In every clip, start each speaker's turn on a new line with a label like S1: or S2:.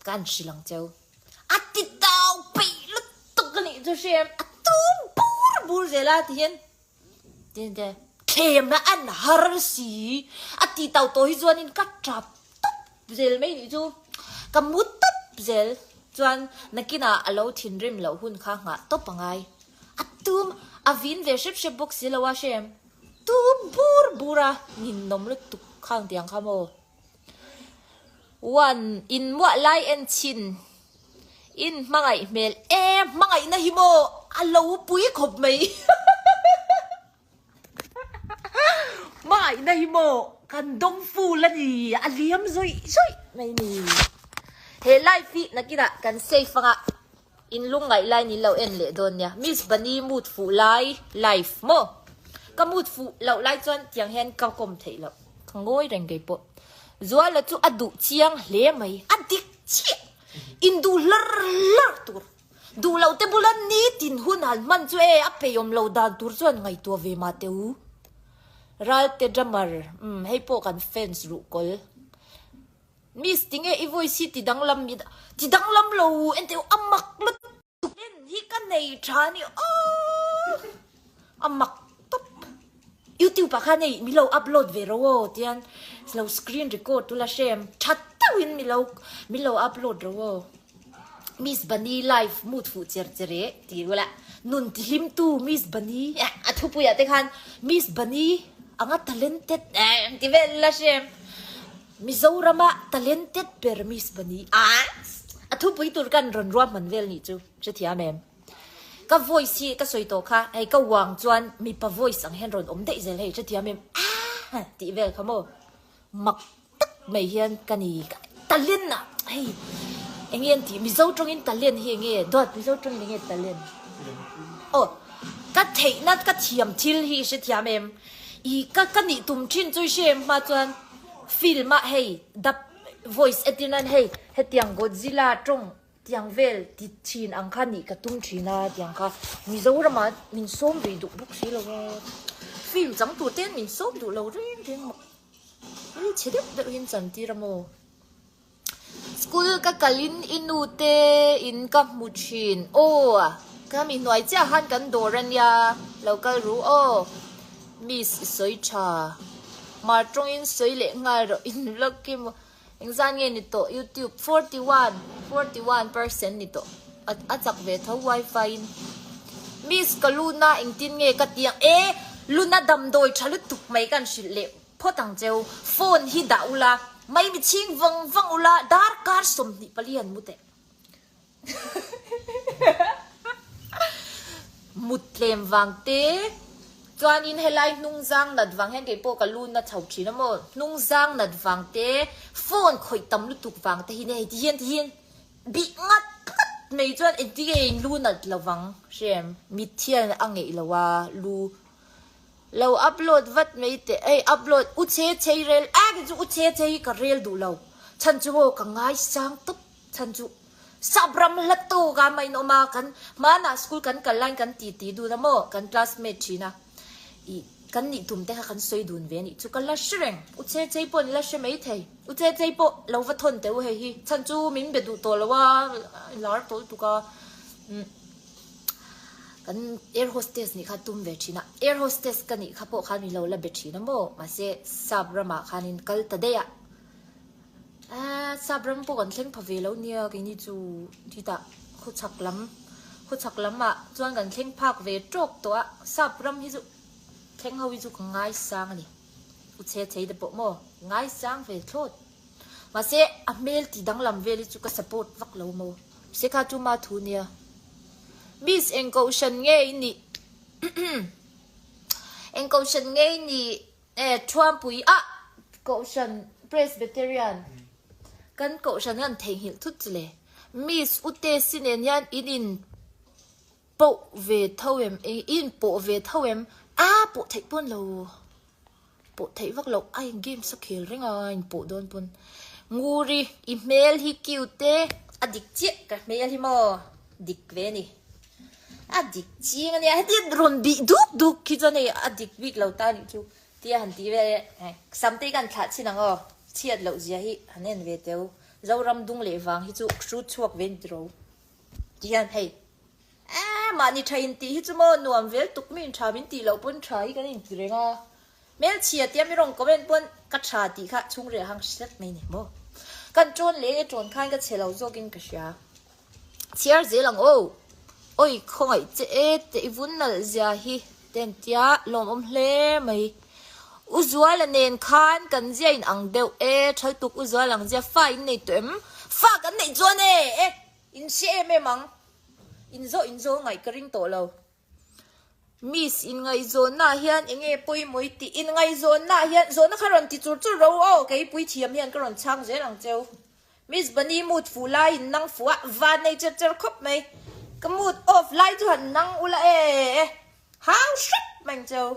S1: Ka an hrilh ang cheu. A ti dau peih lutuk a nih chu hriam a tum bur bur zel a ti hian tin te thlem na an har si a ti tau tawh hi chuanin ka tap tap zel mai nih chu ka mu tap zel chuan nakina a lo thinrim loh hun kha nghah tawp a ngai a tum a vin ve hrep hrep bawk si lo a hriam tum bur bur a ninawm lutuk khang tiang kha maw. One, in muah lai en chin in hmangaih hmel e hmangaih na hi maw a lo pui khawp mai hmangaih na hi maw kan dawng fu la ni a liam zawih zawih mai ni he life hi nakin ah kan safe anga In lung ngaih lai nih lo en leh dawn nia Miss Bunny mut fuh lai life maw ka mut fuh loh lai chuan tiang hian ka kawm theih loh ka ngawi reng kei pawh Zuala chu a duh chiang hle mai a dik chiah in duh hlar hlar tur duh loh te bula nitin hun han hman chu e a peiawm lo dan tur chuan ngaihtuah ve mah teh u Ralte Drummer um hei pawh kan fans ruhkawl. Miss, tinge i voice hi ti danglam i ti danglam lo en teh u a mak lutuk. Pen hi ka nei tha ni aww a mak tawp. Youtube ah khan hei milo upload ve ro aw tian lo screen record tu la hrem tha teuh in milo milo upload ro aw. Miss Bunny live mut fuh cher cher e ti ula nun ti hlim tu Miss Bunny e a thupui ah te khan Miss Bunny anga talented e ti vel la hrem. Mizorama talented Burmese bani a thupui tur kan rawn ruah hman vel nih chu hrethiam em? Ka voice hi ka sawi tawh kha hei ka vang chuan mipa voice ang hian rawn awm daih zel hei hrethiam em aah tih vel kha maw? Mak tak mai hian ka ni ka talent ah hei eng nge an tih Mizo tawngin talent hi eng nge Dawt Mizo tawngin eng nge talent aw ka theihna ka thiam thil hi i hrethiam em? I ka ka nih tum thin chu i hre em hma chuan film ah hei dap voice a ti nan hei hetiang godzilla tawng tiang vel ti thin ang kha nih ka tum thin a tiang kha mizoram ah min sawm ve duh bawk si lo a film chang tur ten min sawm duh lo reng reng maw ih chhe deuh deuhin chan tir a maw. School ka kal in i nu te in ka hmu thin. Aww ka mi hnuai chiah han kan dawr a nia, lo kal ru aw. Miss i sawi tha. Mar tawng in sawi leh nghal rawh in lawk i maw. Engzan nge ni tawh youtube forty one, forty one percent ni tawh. A chak ve tho wifi in. Miss ka luna engtin nge ka ti ang. Ehh luna damdawi tha lutuk mai kan hrilh leh. Phawt ang cheu, phone hi dah ula, mai mi chhing vang vang ula, darkar sawmhnih pali an mu teh. Muttlem vang te chuanin helai hnungzang nat vang hian keipawh ka lu na chho thin a maw, hnungzang nat vang te, phone khawih tam lutuk vang te hian heti hian tihin bih ngat ngat mai chuan engtin nge in lu nat lovang? Hre em? Mithian a ngeih lo a lu Lo upload vat mai teh ei upload u che chei rel a ni chu u che chei hi ka rel duh lo chhan chu maw ka ngai sang tawp chhan chu sap ram hla tawk a main awm a kan hmanah school kan kal line kan ti ti dun a maw kan classmate thin a i kan nih tum te kha kan sawi dun ve nih chu ka la hre reng u che chei pawh ni la hre mai thei u che chei pawh lo va thawn teh u hei hi chhan chu min be duh tawh lo a lar tawh lutuk a umm. Kan air hostess nih kha tum ve thin a, air hostess ka nih kha pawh khan min lo la be thin a maw, mahse sap ram ah khan in kal ta daih a, ah sap ram pawh kan thleng pha ve lo nia kei ni chu hitah khuchhak lam, khuchhak lam ah chuan kan thleng phak ve tawk tawh a, sap ram hi chu thleng ho hi chu ka ngai sang a ni, u chhe chei te pawh maw ngai sang ve thlawt. Mahse, a hmel ti danglam vel hi chu ka support vak lo maw. Mahse kha chu ma thu nia. Miss eng kohhran nge i nih? Eng kohhran nge i nih? Eh, Thuampui ah kohhran Presbyterian kan kohhran hi an theihnghilh thut si le. Miss Utesinen hian in in. Poh ve tho em e in poh ve tho em a poh theih pawn lo poh theih vak lo a in games a khel reng a a in poh dawn pawn nguri i hmel hi cute te a dik chiah ka hmel hi maw dik ve ni a dik ching a nia heti rawn bih duk duk khi chuan hei a dik bik lo ta nih chu tia han ti vel e sam te hi ka han thlah chin ang aw chhiat loh zia hi han en ve teu Zoram dung leh vang hi chu hru chhuak ve ni tiro. Tih hian hei Eeh mahni tha in tih hi chu maw nuam vel tuk min tha min tih loh pawn tha hi kan in ti reng a Hmelchhia tia mi rawn comment pawn ka tha tih kha chhung reh hang hret mai ni maw Kan tawn leh e tawn khan ka chhe lo zawk in ka hria Chhiar zel ang aw Awii khawngaih che e te i vun nalh zia hi Ten tia lawmawm hle mai. U Zuala nen khan kan zia in ang deuh e, Thaltuk U Zuala ang zia fa in nei tawh em? Fa kan neih chuan e, e in hre em em ang. In zawh in zaw ngaih ka ring tawh lo. Miss in ngaihzawnnaah hian eng nge pawimawih tih in ngaihzawnnaah hian zawhna kha rawn ti chur chur ro aw, keipui thiam hian ka rawn chhang zel ang cheu. Miss Bunny mood fuh laiin nang fuah van nei cher cher khawp mai. Ka mood off lai chu han nang ula e. Hau hrep mai ang che u.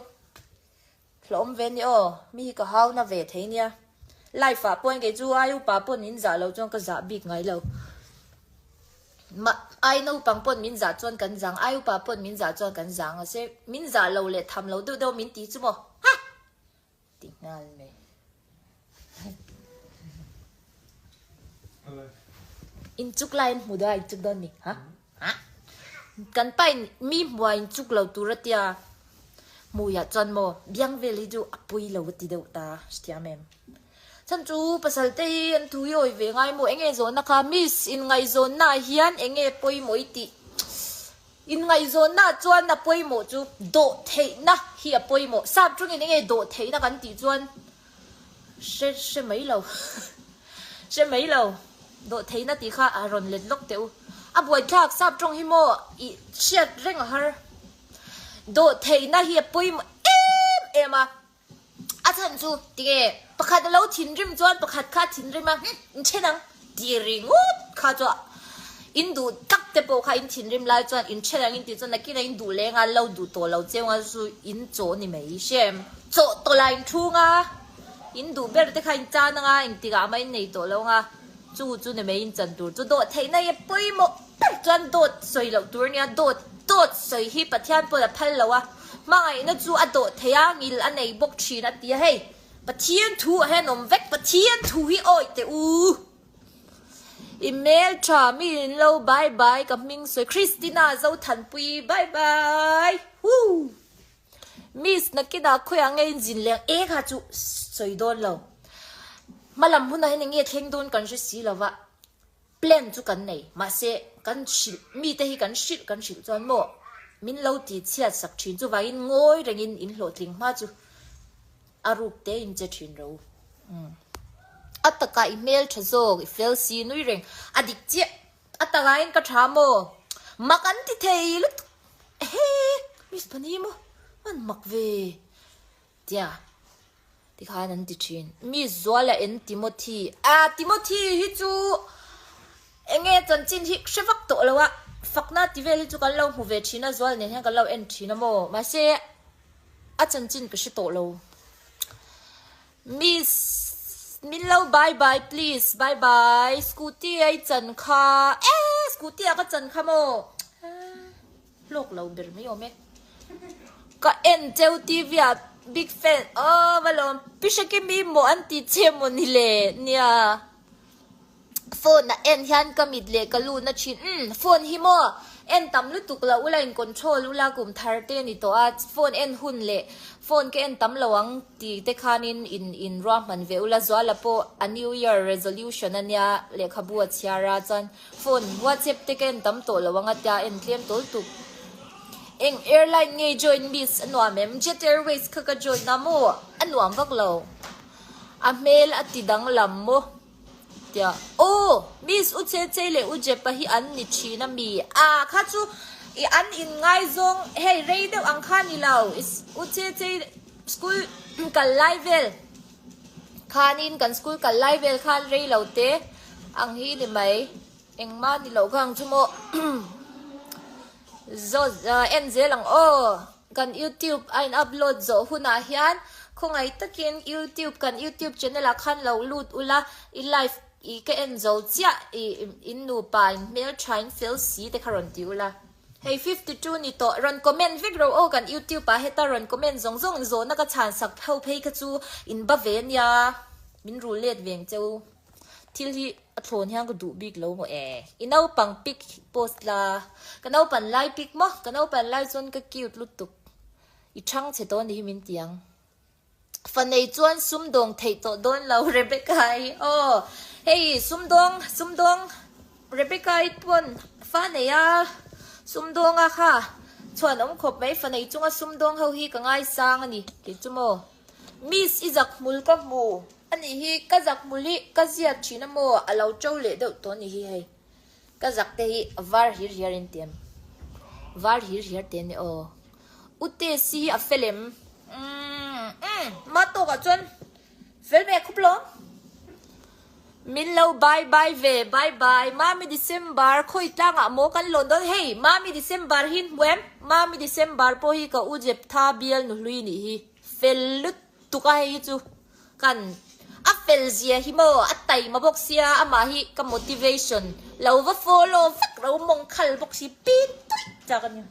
S1: Hlawhawm ve ni aw, mi hi ka hau na ve thei nia. Life ah pawhin kei chu ai upa pawhin min zah lo chuan ka zah bik ngai lo. Mah ai naupang pawhin min zah chuan kan zang, ai upa pawhin min zah chuan kan zang ase. Min zah lo leh tham lo deuh deuh min ti chu maw. Ha! Ti nghal mai. In chuk lai in hmu dawn a in chuk dawn ni ha ha kan pa in mi hmuah in chuk lo tur atia hmuiah chuan maw biang vel hi chu a pui lo ati deuh ta hriam em chhan chu pasal te hi an thu hi awi ve ngai maw enge zawhna kha miss in ngaihzawnna ah hian enge pawimawh i tih Inngaihzawnnaah chuan a pawimawh chu dawh theihna hi a pawimawh. Sap tungin enge dawh theihna kan tih chuan hre hre mai lo hre mai lo dawh theihna tih kha a rawn let lawk teh u. A buaithlak sap tung hi maw i hriat reng a har. Dawh theihna hi a pawimawh em em a. A chhan chu tinge pakhat a lo thinrim chuan pakhat kha thinrim a hm in then ang tih ri ngawt kha chu in duh tak te pawh kha in thinrim lai chuan in then ang in tih chuan nakin a in duh leng a lo duh tawh lo cheu nga chu in chaw ni mai shem chaw tawh la in thu nga in duh ber te kha in tan anga engtikah a main nei tawh lo nga chu chu ni mai in chan tur chu dawhtheihna i a pawimawh. Tâk chuan dawt sawi loh tur nia, dawt, dawt sawi hi Pathian pawn a phal lo a, hmangaihna chu a dawt thei a, ngil a nei bawk thin a ti a hei, Pathian thu a hen awm vek, Pathian thu hi awih teh u. I hmel tha mi in lo bye bye ka hming sawi Christina Zothanpuii bye bye huu Miss Nakina khawi ang e inzin leng e kha chu sawi dawn lo hma lam hunah hian enge thleng dawn kan hre si lo va. Plan chu kan nei, mahse kan hrilh, mite hi kan hrilh kan hrilh chuan maw min lo ti chhiat sak thin, chuvangin ngawi rengin in hlawhtling hma chu a ruk te in che thin ro. Umm. A taka i hmeltha zawk, i fel si nui reng, a dik chiah. A takain ka tha maw, mak an ti thei lutuk. Ehee, miss pahnih hi maw an mak ve? Tia, tikhan an ti thin. Mi zuala en Timothy. A, Timothy hi chu enge chanchin hi hre vak tawh lo a, fakna ti vel hi chu kan lo hmu ve thin a, zual nen hian kan lo en thin a maw? Mahse, a chanchin ka hre tawh lo. Miss, min lo bye bye please, bye bye, scooty a i chan kha. E, scooty a ka chan kha maw? Hlawk lo ber mai awm e. Ka en cheu TV a big fan aw va lawm Pisha ke mi maw an ti che maw ni le nia phone a en hian ka mit leh ka lu na thin umm phone hi maw en tam lutuk lo ula in control ula kum thar te ni tawh a phone en hun leh phone ka en tam lo ang ti te khan in in in ruahman ve ula Zuala pawh a new year resolution a nia lehkhabu a chhiar a chuan Phone, WhatsApp te ka en tam tawh lo ang a tia en tlem tawl tuk. Eng airline nge join miss a nuam em? Jet Airways kha ka join a maw? A nuam vak lo. A hmel a ti danglam maw? Tia oh miss u Chechei leh u Jepa hi an ni thin a mi? Ah kha chu i an in ngai zawng hei rei deuh ang kha a ni lo. U Chechei school kal lai vel. Khanin kan school kal lai vel khan rei lo te ang hi ni mai. Engmah ni loh vang chu maw. Zawt ahh en zel ang aw. Kan YouTube a in upload zawh hunah hian khawngaih takin YouTube kan YouTube channel ah khan lo lut ula i live i ka en zo chiah i in nupa in hmeltha in fel si te kha rawn ti ula. Hei fifty two ni tawh, rawn comment vek ro aw kan youtube ah heta rawn comment zawng zawng in zawhna ka chhan sak ho phei kha chu in ba ve nia min rul let veng che u thil hi a thlawn hian ka duh bik lo maw e i naupang pic post la ka naupan lai pic maw ka naupan lai chuan ka cute lutuk i chhang che tawh ni hi min ti ang. Fanei chuan sumdawng theih tawh dawn lo Rebecca-i aw hei sumdawng sumdawng Rebecca-i pawn fanei a sumdawnga kha chhuan awm khawp mai fanei chunga sumdawng ho hi ka ngaisang a ni ti chu maw miss i zak hmul ka hmu anih hi ka zak hmul hi ka ziak thin a maw a lo to leh deuh tawh anih hi hei. Ka zak te hi var hir hiar in tiam var hir hiar te ni aw ute si hi a fel em umm umm ma tawk ah chuan fel mek khup lo min lo bye bye ve bye bye mami December khawi tlang ah maw kan lawn dawn hei mami December hi in hmu em mami December pawh hi ka u jep tha bial nu hlui nih hi fel lut. Tuk a hei hi chu kan a fel zia hi maw a taima bawk sia amah hi ka motivation lo va follow vak lo mawng khal bawk si bik tuih chak a ni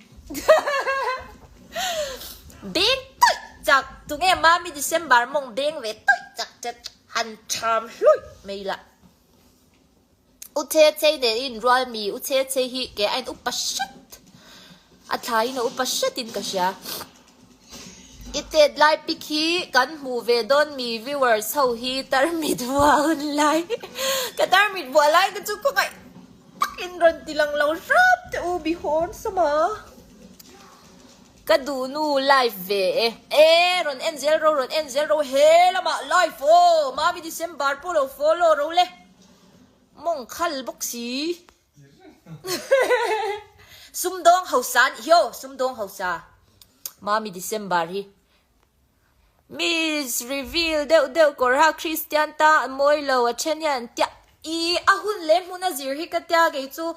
S1: beng tuih chak tunge mami December mawng beng ve tuih chak che han tham hluih mai la U Chechei nen in rual mi U Chechei hi keh a in upa hret a thlai in a upa hret in ka hria i tet lai pic hi kan hmuh ve dawn mi viewers ho hi tarmit vua hun lai ka tarmit bua lai te chu khawmai tak in rawn ti lang lo rap te u bihawn sawma ka duh nu live ve e e rawn en zel ro rawn en zel ro he lamah live aw mami December pawh lo follow ro le Mawng khal bawk si. Sumdawng hausa anih hi aw, sumdawng hausa. Mami December hi. Miss reveal deuh deuh kawr ha Christian ta a mawi lo a then hian tiah. Ih a hun leh hmuna zir hi ka tia kei chu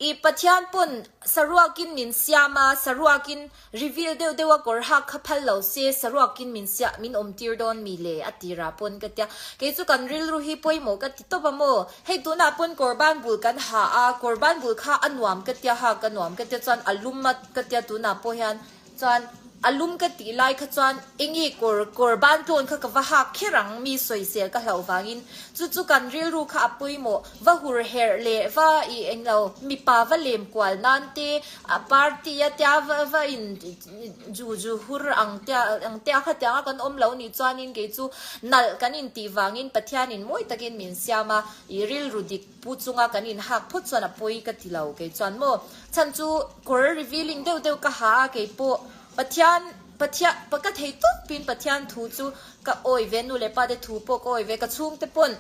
S1: I Pathian pawn saruakin min siam a, saruakin reveal deuh deuh a kawr hak kha phal lo se, saruakin min siah, min awmtir dawn mi le a tirah pawn ka tia. Kei chu kan rilru hi pawimawh ka ti tawp a maw? Hei tunah pawn kawr ban bul kan ha a, kawr ban bul kha a nuam ka tia ha, ka nuam ka tia chuan a lum a ka tia tunah pawh hian Chuan a lum ka tih lai kha chuan engi kawr kawr ban tlawn kha ka va hak kher ang mi sawi zel ka hlauh vangin chu chu kan rilru kha a pawimawh va hur herh leh va i englo mipa va lem kual nan te a party a tia va va in ju ju hur ang tia ang te a kha tiang a kan awm lo nih chuanin kei chu nalh kan intih vangin Pathianin mawi takin min siam a i rilru dik Pu chunga kan in hak phawt chuan a pawi ka ti lo kei chuan maw chhan chu kawr revealing deuh deuh ka ha a kei pawh Pathian Pathiah pa ka thei tawp pin Pathian thu chu ka awi ve nu leh pa te thu pawh ka awi ve ka chhung te pawn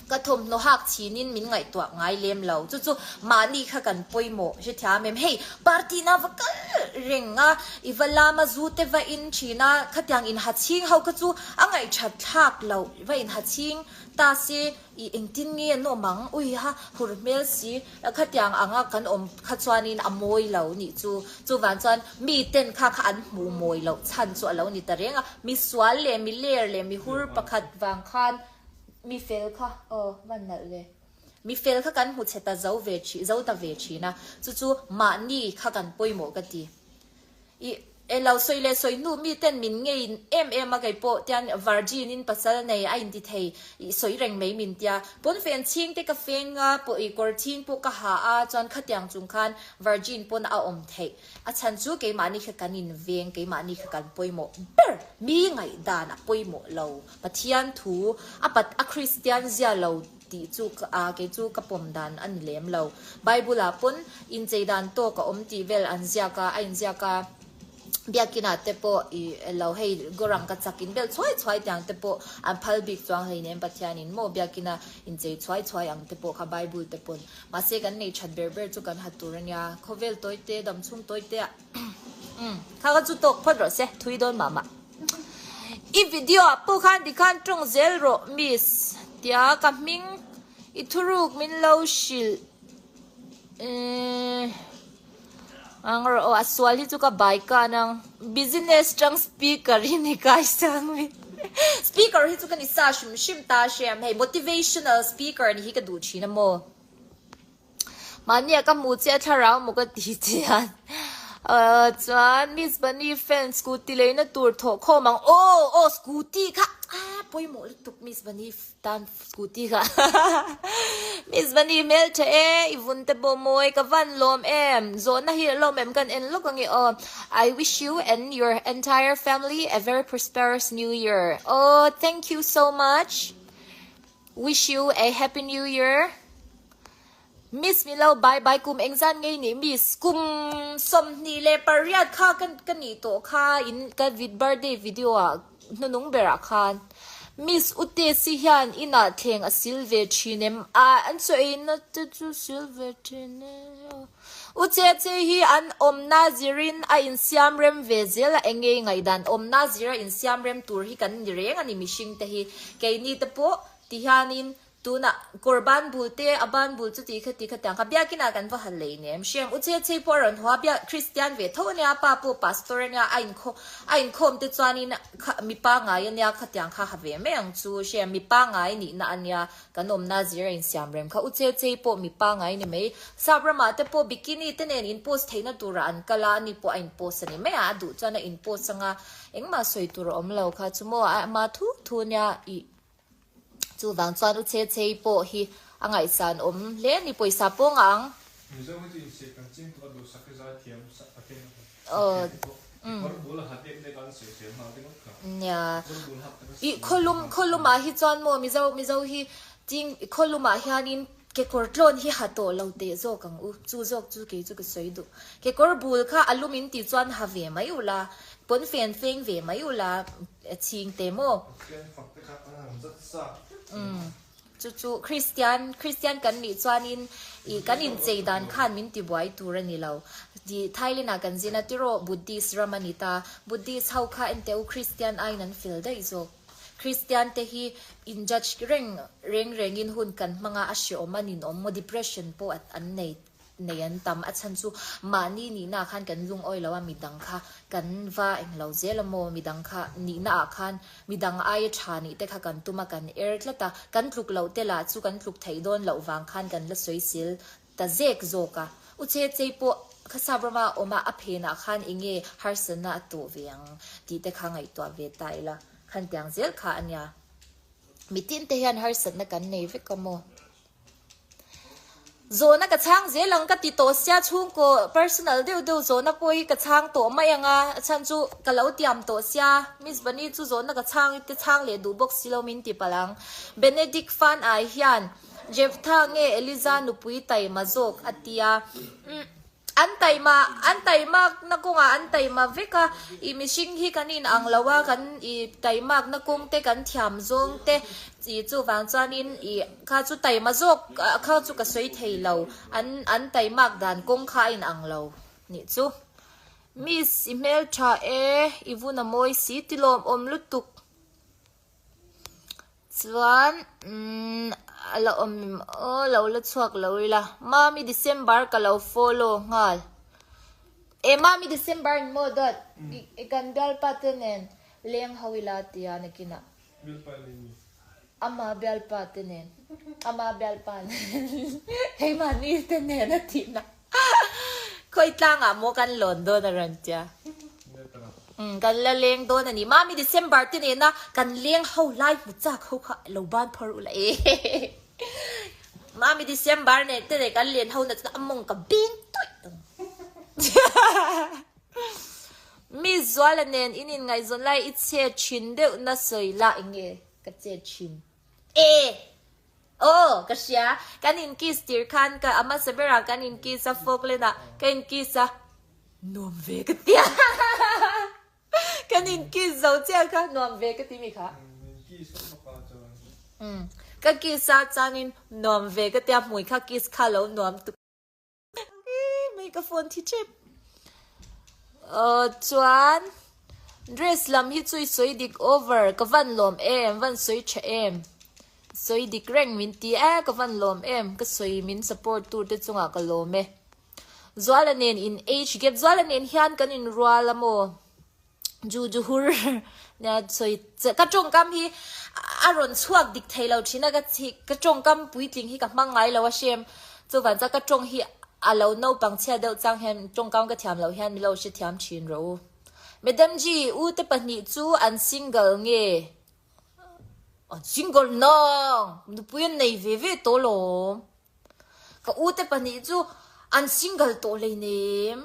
S1: ka thawmhnaw hak chhin in min ngaihtuah ngai lem lo chu chu mahni kha kan pawimawh hrethiam em hei party na va kal reng a i va lam a zu te va in thin a khatiang in ha chhing ho kha chu a ngaih that thlak loh va in ha chhing ta se I engtin nge an awm ang? Ui ha, hur hmel si. Khatiang anga kan awm kha chuanin a mawi lo nih chu. Chuvang chuan miten kha kha an hmuh mawi loh chhan chu a lo ni ta reng a. Misual leh miler leh mihur pakhat vang khan mi fel kha aw va nalh le. Mi fel kha kan hmu chhe ta zo ve thin, zo ta ve thin a. Chu chu mahni kha kan pawimawh ka ti. I e lo sawi leh sawi hnu mi ten min ngei em em a keipawh tian Virgin in pasal nei a inti thei i sawi reng mai min tia pawnfen chhing te ka feng a pawh i kawr chhing pawh ka ha a chuan khatiang chung khan Virgin pawn a awm theih a chhan chu keimahni kha kan in veng keimahni kha kan pawimawh ber mi ngaihdan a pawimawh lo Pathian thu a pat a Kristian zia lo Tih chu kei chu ka pawm dan a ni lem lo. Bible-ah pawn inchei dan tawk a awm tih vel an ziak a, a inziak a, Biakina te pawh i lo hei gorang ka chak in bel chhuai chhuai tiang te pawh an phal bik chuang hei nem Pathianin maw Biakina inchei chhuai chhuai ang te pawh kha Bible te pawn mahse kan nei that ber ber chu kan ha tur a nia. Khawvel tawite, damchhung tawite ah. Kha kha chu talk phawt rawh se, thui dawn mah mah. I video ah pawh khan ri khan tawng zel rawh miss. Tia ka hming i thuruk min lo hrilh eeh ang rawh aw a sual hi chu ka bai kan ang business tang speaker hi ni kai sang mi speaker hi chu ka ni sa hrim hrim ta hriam hei motivational speaker ni hi ka duh thin a maw. mahnia ka hmu che a thlarau maw ka ti chian uh, chuan miss bani fan scooty leina tur thawh khawm ang oh oh scooty kha ah pawimawh lutuk miss bani tan scooty kha miss bani hmel tha e i vun te bo mawi ka van lawm em zawhna hi lo mem kan en lawk ange oh i wish you and your entire family a very prosperous new year oh thank you so much wish you a happy new year Miss mi lo bai bai kum eng zan ngei nih miss kum sawmhnih leh pariat kha ka ka nih tawh kha in ka vit birthday video ah hnunung ber ah khan miss u tesi hian inah thleng a sil ve thin em ah an chaw ei na te chu sil ve thin e u cheche hi an awmna zir in a in siam rem ve zel a eng nge ngaihdan awmna zir a in siam rem tur hi kan ni reng a ni mihring te hi kei ni te pawh ti hian in Tunah, kawr ban bul te, a ban bul chu ti kha ti kha tiang kha biak inah kan va hal leh nia em hriam? U Chechei pawh a rawn haw a, biak Kristian ve tho a nia, pa pawh Pastor a nia, a inkhawm a inkhawm te chuanin kha mipa ngai a nia kha tiang kha ha ve mai ang chu hriam? Mipa ngai nihna a nia kan awmna zir a insiam rem kha, U Chechei pawh mipa ngai ni mai, Sap ramah te pawh bikini te nen inpost theihna tura an kal a, ani pawh a inpost a ni mai a, a duh chuan a inpost anga engmah sawi tur a awm lo kha, chu maw a, a thu thu nia, i. Chuvang chuan u Che Chei pawh hi a ngaihsan awm hle a ni, pawisa pawng ang. Nia, i khaw lum khaw lumah hi chuan maw Mizo Mizo hi Ching khaw lumah hianin Kekawr tlawn hi ha tawh lo teh zawk ang u, chu zawk chu kei chu ka sawi duh. Kekawr bul kha a lum in tih chuan ha ve mai u la, pawnfen feng ve mai u la, chhing teh maw. Pathian fak te kha a lang zat zat em. Chu chu Kristian, Kristian kan nih chuan in ih kan inchei dan khan min ti buai tur a ni lo. Ih Thailand ah kan zin a, tiraw Buddhist ram a ni ta, Buddhist ho kha enteh u Kristian aiin an fel daih zawk. Kristiante hi in judge reng reng rengin hun kan hmanga a hreawm a ninawm maw depression pawh a an nei nei an tam a chhan chu mahni nihna ah khan kan lungawi lo a midang kha kan va eng lo zel a maw midang kha nihna ah khan midang aia tha nih te kha kan tum a kan er tlat a kan tluk loh te lah chu kan tluk theih dawn loh vang khan kan la sawi sil Ta zek zawk a, u Chechei pawh Khasa Brahma awm a, a phen ah khan enge harsatna a tawh ve ang tih te kha ngaihtuah ve ta ila, khan tiang zel kha a nia. Mitin te hian harsatna kan nei vek a maw? Zawhna ka chhang zel ang ka ti tawh sia, chhungkaw personal deuh deuh zawhna pawh hi ka chhang tawh mai ang a, a chhan chu ka lo tiam tawh sia, Miss Vani chu zawhna ka chhang i te chhang leh duh bawk si lo min ti palh ang. Benedict fan ai hian. Jephtha nge Eliza nupui taima zawk? a ti a. Umm, an taima, an taimakna kawngah an taima vek a. I mihring hi kan inang lo a, kan i taimakna kawng te, kan thiam zawng te i chuvang chuanin i kha chu taima zawk kha chu ka sawi thei lo. An an taimak dan kawng kha a inang lo nih chu. Miss, i hmeltha e, i vun a mawi si, tilawmawm lutuk Chuan a la awm em aw lo la chhuak lo ila, Mami December ka lo follow nghal. E Mami December in maw dawt? I kan bialpa te nen leng ho ila ti a nakin a. Bialpa nen maw? Ama bialpa te nen, ama bialpa nen, keimahni te nen a tihna. Khawi tlang ah maw kan lawn dawn a rawn ti a. Umm kan la leng dawn a ni. Mami December te nen a kan leng ho lai hmu chak ho kha lo ban phawrh u la e. Mami December nen te nen kan len ho na chuna a mawng ka beng tuih ang. Miss Zuala nen in inngaihzawn lai i chet thin deuh na sawi lah eng nge ka chet thin. E. Aw, ka hria. Kan in kiss tir khan ka a hmasa berah kan in kiss a, fawk len ah ka in kiss a, nuam ve ka ti a. Kan in kiss zo chiah kha nuam ve ka ti mi kha. Ka kiss a chuan in nuam ve ka ti a, hmui kha kiss kha a lo nuam tuk. mai ka phone thi tep uh, chuan dress lam hi chui soi dik over ka van lom em van soi tha em soi dik reng min ti a ka van lom em ka soi min support tur te chunga ka lom e zuala nen in age gap zuala nen hian kan in rual amo ju ju hur na soi ka tawng kam hi a rawn chhuak dik thei lo thin a ka chi ka tawng kam puitling hi ka hmang ngai lo a shem chuvan chuan ka tawng hi a lo naupang chhiat deuh chang hian tawng kam ka thiam lo hian mi lo hre thiam thin ro u madam ji u te pahnih chu an single nge an single nang nupui an nei ve ve tawh lawm Ka u te pahnih chu an single tawh hlei nem.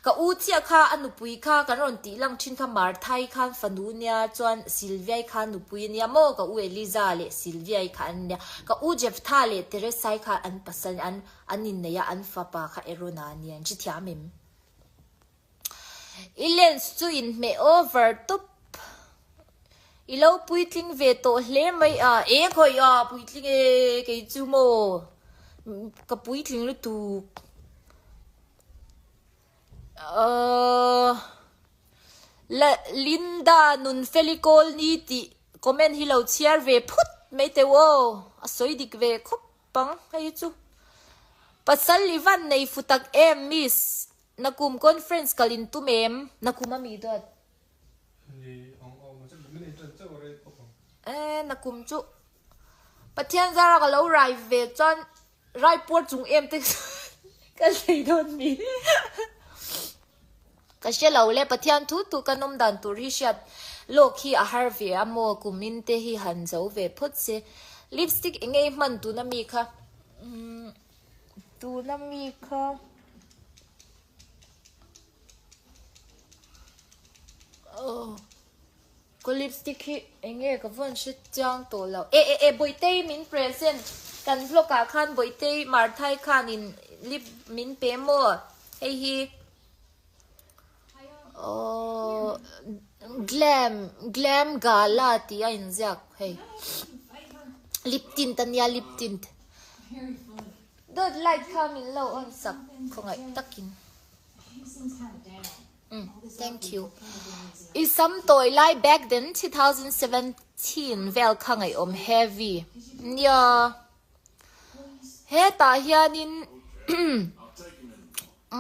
S1: Ka u chiah kha a nupui kha kan rawn tih lang thin kha Marthai khan fanu nia chuan Silvia'i khan nupui a nia maw? Ka u Eliza leh Silvia'i kha an nia. Ka u Jephthah leh Teresa'i kha an pasal an an inneih a, an fapa kha Erona a nia. An chhi thiam em? I lens chu in hmeh over tup. I lo puitling ve tawh hle mai a. E khawih a puitling e kei chu maw ka puitling lutuk. Ahh la Linda nun felicol ni tih comment hi lo chhiar ve phut mai teuh aw. A sawi dik ve khawp ang hei chu. Pasal i van nei futak em miss. Na kum conference kal in tum em? Na kum a mi duat. Eeh na kum chu Pathian zara ka lo rai ve chuan Raipur chung em te ka sawi dawn mi ka hre lo le Pathian thu thu kan awm dan tur hi hriat lawk hi a har ve a maw kum in te hi han zo ve phawt se lipstick eng nge i hman tun a mi kha umm. Tuna mi kha Ka lipstick hi enge ka vawn hre chang tawh lo. E e e Bawitei min present kan vlog ah khan Bawitei Marthai khan in lip min pe maw? Hei hi. Glam, glam gala tih a inziak hei. Lip tint ania lip tint. Dawt light kha min lo on sak khawngaih takin. Thank you. I sam tawi lai back then two thousand seventeen vel kha ngaihawm heavy. Nia. Hetah hianin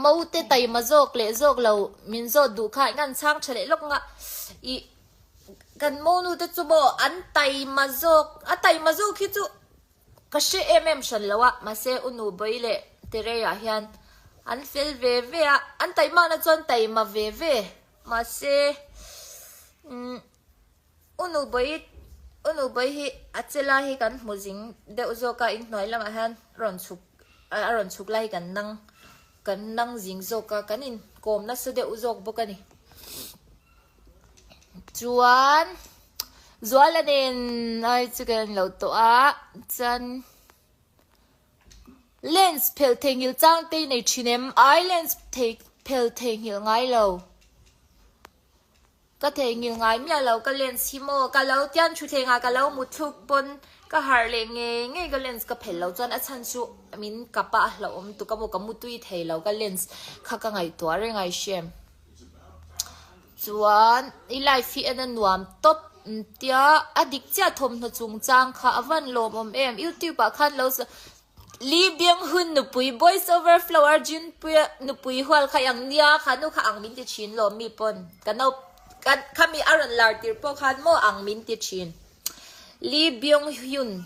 S1: Mo te taima zawk leh zawk lo min zawt duh kha inga'n chhang tha leh lawk ngah i kan Mo nu te chu maw an taima zawk a taima zawk hi chu ka hre em em hran lo a mahse u nu Bawi leh Tereia hian an fel ve ve a an taimana chuan taima ve ve mahse umm. U nu bawi u nu bawi hi a che lai hi kan hmu zing deuh zawk a, in hnuai lamah hian rawn chhuk a rawn chhuk lai hi kan nang kan nang zing zawk a, kan in kawm nasa deuh zawk bawk a ni. Chuan Zuala nen ai chu kan lo tawh a, chuan Lens phelh theihnghilh chang te i nei thin em? Ai Lens phelh theihnghilh ngai lo. Ka theihnghilh ngai miah lo ka lens hi maw ka lo tian thutthlengah ka lo mutthluk pawn ka harh leh ngei ngei ka lens ka phelh lo chuan a chhan chu min kap a a hlauhawm tuk a maw ka mutui thei lo ka lens kha ka ngaihtuah reng a i hriam chuan i life hi en a nuam tawp tia a dik chiah thawmhnaw chungchang kha a van lawmawm em youtube ah khan lo Lee Byung-hun nupui, Boys Over Flower, Junpui nupui hual kha i ang nia, kha nu kha ang min ti thin lawm mi pawn ka no khami a rawn lar tir pawh khan maw ang min ti thin. Lee Byung-hun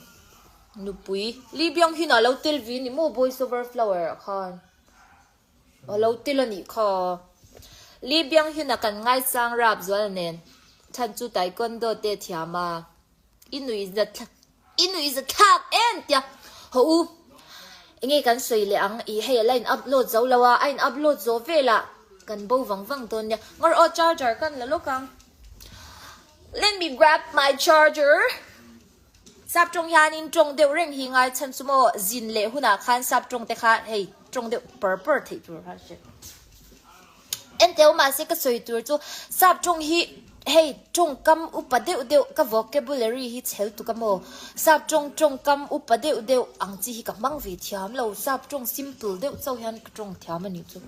S1: nupui, Lee Byung-hun a lo tel vi ni maw Boys Over Flower ah khan? A lo tel a nih kha. Lee Byung-hun a kan ngaisang rapzual nen chhan chu taekwondo te thiam a, i nui zat thleng. I nuih za thlak em tia haw u. Enge kan sawi leh ang i hei a la in upload zo lo a, a in upload zawh vela kan bo vang vang dawn nia. Ngawr aw charger ka la lawk ang. Let me grab my charger. Sap tawng hianin tawng deuh reng hi ngai chhan chu maw, zin leh hunah khan sap tawng te kha hei tawng deuh par par theih tur kha hriat. Enteo mahse ka sawi tur chu sap ṭung hi hei ṭungkam upa deuh deuh ka vocabulary hi chhel tuk a maw? Sap ṭung ṭungkam upa deuh deuh ang chi hi ka hmang ve thiam lo, sap ṭung simple deuh chauh hian ka ṭung thiam a nih chu.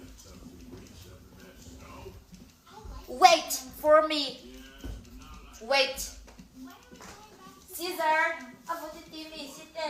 S1: Wait for me, wait. Cesar, a vutiti mi si te.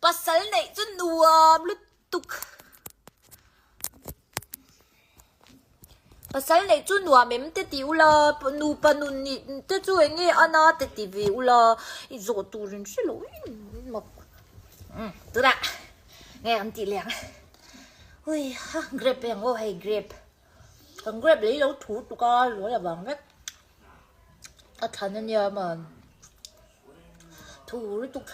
S1: Pasal neih chu nuam lutuk. Pasal neih chu nuam em te ti ula, nupa nun nih te chu eng nge ana te ti ve ula, i zawh turin hre lo em em mawp. Um, tunah nge kan tih leh ang. Ui ha, grab e ang aw hei grab. Kan grab lei lo thu tuk a, luai avang vek. A than ania man. thu lutuk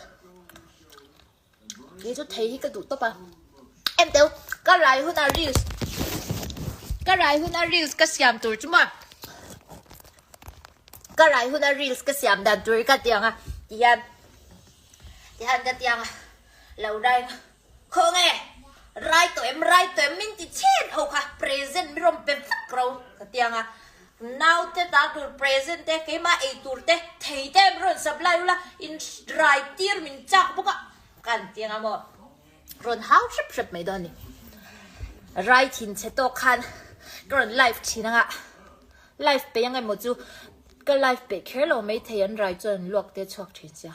S1: kei chu thei hi ka duh tawp a em teu ka rai hun a reels ka rai hun a reels ka siam tur chu ma ka rai hun a reels ka siam dan tur ka tiang a tihan tihan ka tiang a lo rai Khaw nge, rai tawh em rai tawh em min ti chhet ho kha, present min rawn pe vak ro ka ti ang a, nau te ta tur present te keimah ei tur te thei te min rawn sap lai ul a, in rai tir min chak bawk a ka an ti ang a maw, rawn hau hrep hrep mai dawn a ni, rai thin che tawk khan ka rawn live thin ang a, live peih ang emaw chu ka live peih kher lo mai thei an rai chuan an luak tel chhuak thin sia.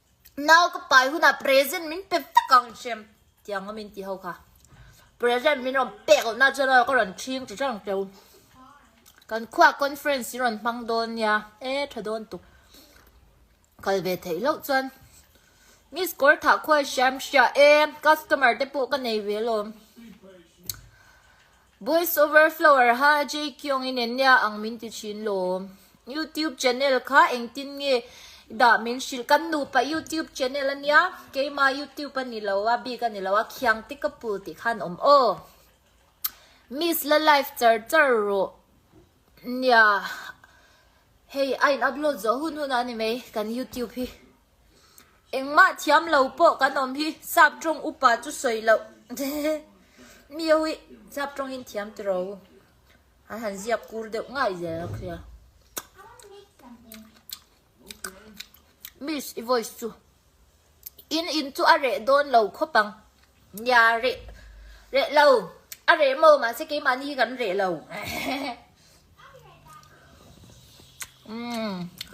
S1: Nau ka pai hunah present min pe vek ang chem tiang a min ti ho kha. Present min rawn pek loh na chuan ka rawn chhing chi chang teuh. Kan khuaa conference hi rawn hmang dawn nia e tha dawn tuk. Kal ve theih loh chuan Miss Kawrthakhuai hriam hria e customer te pawh ka nei ve lawm. Boys over flower ha jkiawng in en nia ang min ti thin lawm youtube channel kha engtin nge i dah min hrilh kan nupa youtube channel ania keima youtube ani lo a bik ani lo a khiang te ka pul tih khan awm aw miss la live char char rawh nia hei a in upload zawh hun hun a ani mai kan youtube hi. Engmah thiam lo pawh kan awm hi sap tawng upa chu sawi loh mi ho hi sap tawng in thiam ti ro an han ziak kur deuh ngai zel ang khia miss i voice chu in in chu a reh dawn lo khawp ang nia reh reh lo a reh maw mahse keimahni hi kan reh lo.